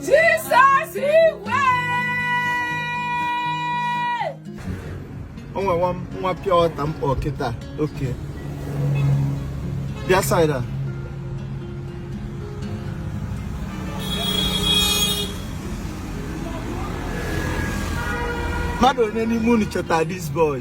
Jizọs iwe o nwere nwa nwa pịa ọta mkpọ kịta oke bịa side a mmadụ onye n'ime unu chọta this boy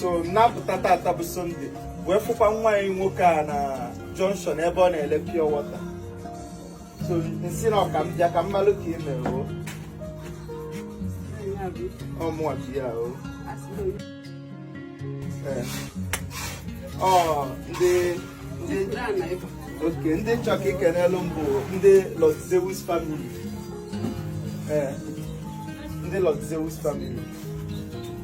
so m pụta tata bụ Sunday wee fụkwa nwa anyị nwoke a na junction ebe ọ na-ele pure water so m sị na ọ ka m bịa ka m malụ ka ị mere o ọ mụwa bi ya o Ee. ọ ndị ndị oke ndị m chọ ka i kenelu m bụ ndị Lord Zeus family ee ndị Lord Zeus family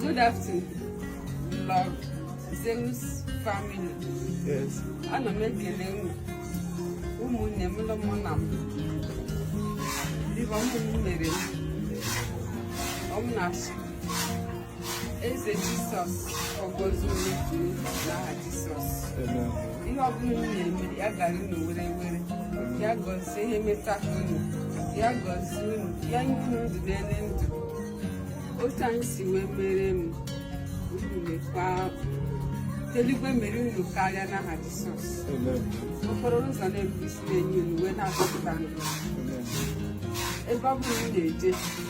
Good afternoon, Lord Zeus family. Yes. Ana m ekele unu ụmụnne m na ụmụnna m dịka unu mere m na-asụ Eze Jisọs gọzie unu dum n'aha Jisọs ihe ọbụla unu na-eme ya gara unu were were ya gọzie ihe meta unu ya gọzie unu ya nye unu ndụ n'ele ndụ otu a unu si wee mere m Chukwu mekwa eluigwe mere unu karịa n'aha Jisọs okporo ụzọ na-ebu isi na-enye unu wee na-akpọpụta ebe ọ bụla unu na-eje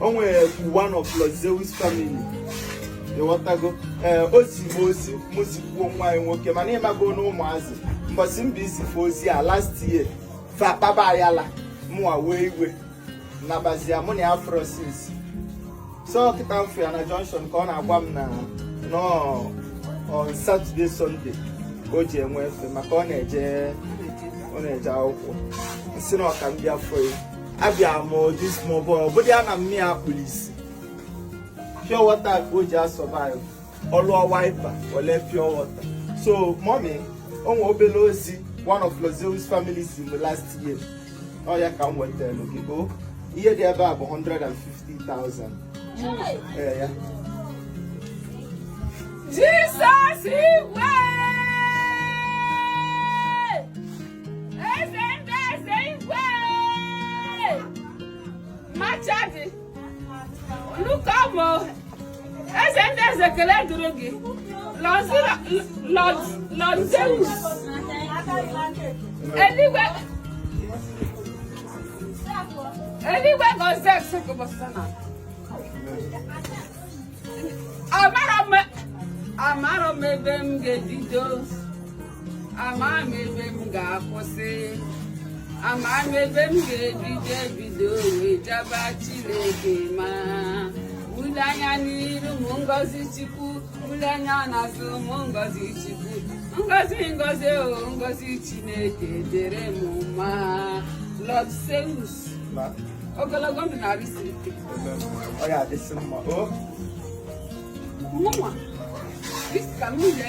o nwere one of Lord Zeus family ịghọtago ee eh, o zi m ozi mụ zikwuo nwa anyị nwoke mana ịmago na ụmụazị mbọsị m bịa izi fa ozi a last year fa kpaba ayala mụwa wee iwe nabazia mụ na ya afụrọ since so kịta m fụ ya na junction ka ọ na-agwa m na nọọ on Saturday Sunday ka o ji enwe efe maka ọ na-eje ọ na-eje akwụkwọ m sị na ọ ka m bịa fụ ya abịa m this small boy ọ bụdị ya na nne ya kpuru isi pure water ka o ji a-survive ọ lụọ wiper o lee pure water so mommy o nwe obere ozi one of Lord Zeus family zi m last year ọ ya ka m wetara gị o ihe dị ebe a bụ 150,000 ee ya Jisọs igwe Chukwu bụ eze ndị eze ekele dịrị gị Lord Zeus eluigwe eluigwe gọzie nsogụbọsọ na amarọ m ebe m ga-ebido ama m ebe m ga-akwụsị ama m ebe m ga-ebido ebido wee jaba Chineke mma m lee anya n'iru m ngozi Chukwu m lee anya n'azụ m ngozi Chukwu ngozi ngozi o oh, ngozi Chineke dịrị m mma Lord Zeus ogologo ndụ na arụ isi ike ọ ya adịsị mma o oh. mụnwa dịka m ile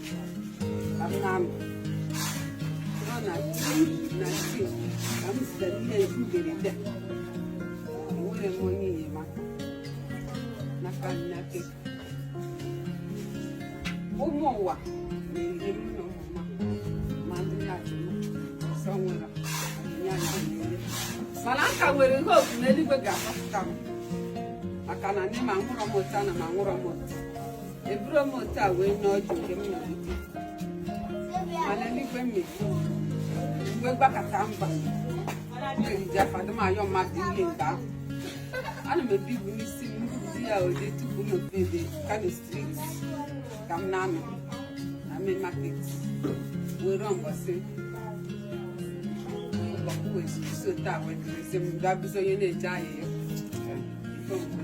ụmụ ụwa na-eri m na ụmụma ma ndị na-achụ m ọsọ nwere ya na na-ere mana aka nwere ihe otu n'eluigwe ga-akpọpụta m maka na nne m amụrọ m otu a nna m amụrọ m otu eburu m otu a wee nye ọjị nke m na-ebute mana n'igwe m na-ebu mgbe gbakọta m na-eriju afọ adị m ayọ mmadụ ihe nke ahụ ana m ebu ibu n'isi m mbupụta ya oje tupu m nọpụ ebe kano street ka m na-anọ na main market wee ruo mbọsị ọkụ wee zuru so taa wee dịrịsị m gaa bụzi onye na-eje ahịa ya ife mgbe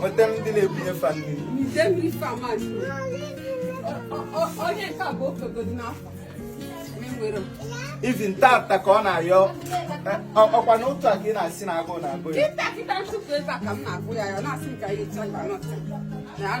nweta ndị na-ebunye fa mmiri even tata ka ọ na-ayọ ọkwa na otu a ka ị na-asị na agụụ na-agụ ya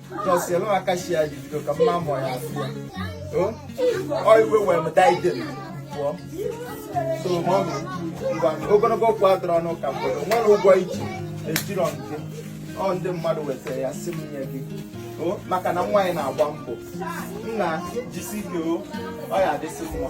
nọsielu aka shi ya jibido ka mma mọ ya sị ya ọ iwe wee m daddy pụọ so mummy ngwa ogologo okwu adịrọ n'ụka mgbede ụgwọ i ji ejirọ nke ọ ndị mmadụ wetara ya sị m nye gị maka na nwa anyị na-agba mbọ nna jisie ike o ọ ya adịsị mma